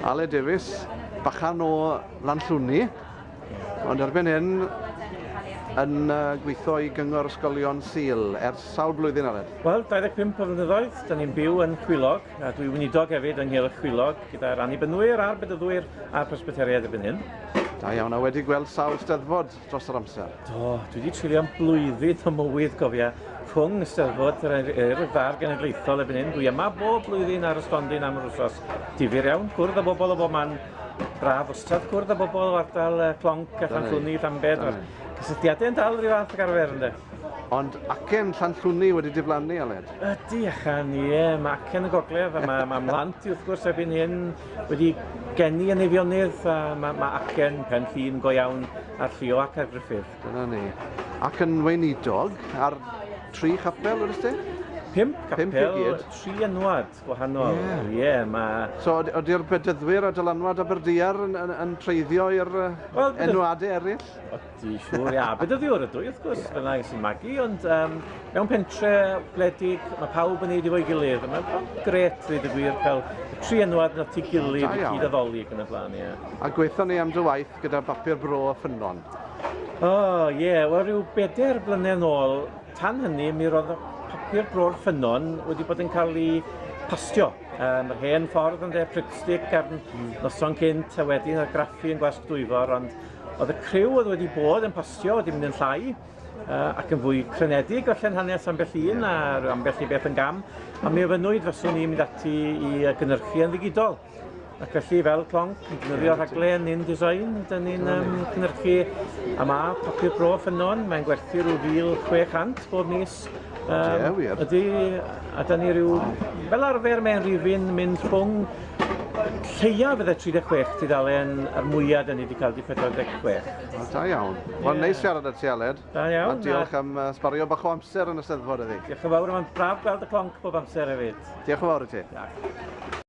Ale Davies, bachan o Lanllwni, ond erbyn hyn yn gweithio i Gyngor Ysgolion Sul ers sawl blwyddyn, Aled? Wel, 25 o flynyddoedd, da ni'n byw yn Chwilog, a dwi weinidog hefyd yng Nghylch Chwilog, gyda'r Annibynwyr a'r Bedyddwyr a'r Presbyteriaid erbyn hyn. Da iawn, a wedi gweld sawl steddfod dros yr amser? Do, dwi wedi treulio am blwyddyn o mywyd, cofia, rhwng Ysteddfod yr Eirfa a'r Genedlaethol erbyn hyn. Dwi yma bob blwyddyn ar y stondin am yr wsos. Difyr iawn, cwrdd â bobl o bob man. Braf wastad cwrdd â bobl o ardal Clonc a Llanllwni, Llanbed. Mae'r cysylltiadau yn dal rhyw fath ag arfer, ynddo? Ond acen Llanllwni wedi diflannu, Aled? Ydy, acen, ie, mae acen y gogledd, a mae, mae mhlant i wrth gwrs erbyn hyn wedi geni yn Eifionydd, a mae, mae acen pen llun go iawn ar Llio ac ar Gruffydd. Dyna ni. Ac yn weinidog ar tri chapel, wedi ti? Pimp capel, Pimp tri enwad gwahanol. Ie, yeah. yeah, mae... So, ydy'r bedyddwyr a dylanwad Aberdiar yn, yn, yn treiddio i'r uh, well, enwadau eraill? Di siŵr, ia. Bedyddiwr ydw i, wrth gwrs, yeah. fyna i sy'n magu, ond um, mewn pentre gwledig, mae pawb yn neud i fo'i gilydd. Mae'n gret, ddweud y gwir, cael y tri enwad yn at ei gilydd i gyd addoli ac yn y blaen, ie. A gweithio ni am dy waith gyda bapur bro a ffynon? O, oh, ie, yeah. wel rhyw bedair blynedd yn ôl, tan hynny, mi roedd papur bro'r ffynon wedi bod yn cael ei pastio. Um, yr hen ffordd yn dde Pripstick ar noson cynt a wedyn ar graffu yn Gwasg Dwyfor, ond Oedd y criw oedd wedi bod yn postio wedi mynd yn llai ac yn fwy crenedig gollen hanes ambell un a ambell i beth yn gam a mi ofynnwyd faswn i'n mynd ati i gynnyrchu yn ddigidol ac felly fel clonc yn defnyddio rhaglen InDesign dyn ni'n um, cynnyrchu a mae papur bro ffynnon mae'n gwerthu rhyw 1600 bob mis Yes. Um, yeah, wir. Ydy, a da ni rhyw... Fel arfer mae'n rifin mynd rhwng lleiaf fydde 36 tudalen a'r mwyaf da ni wedi cael di 46. O, da iawn. Wel, neis siarad â ti, Aled. Da iawn. A diolch am uh, sbario bach o amser yn y steddfod iddi. Diolch yn fawr, mae'n braf gweld y clonc bob amser hefyd. Diolch yn fawr i ti. Diolch.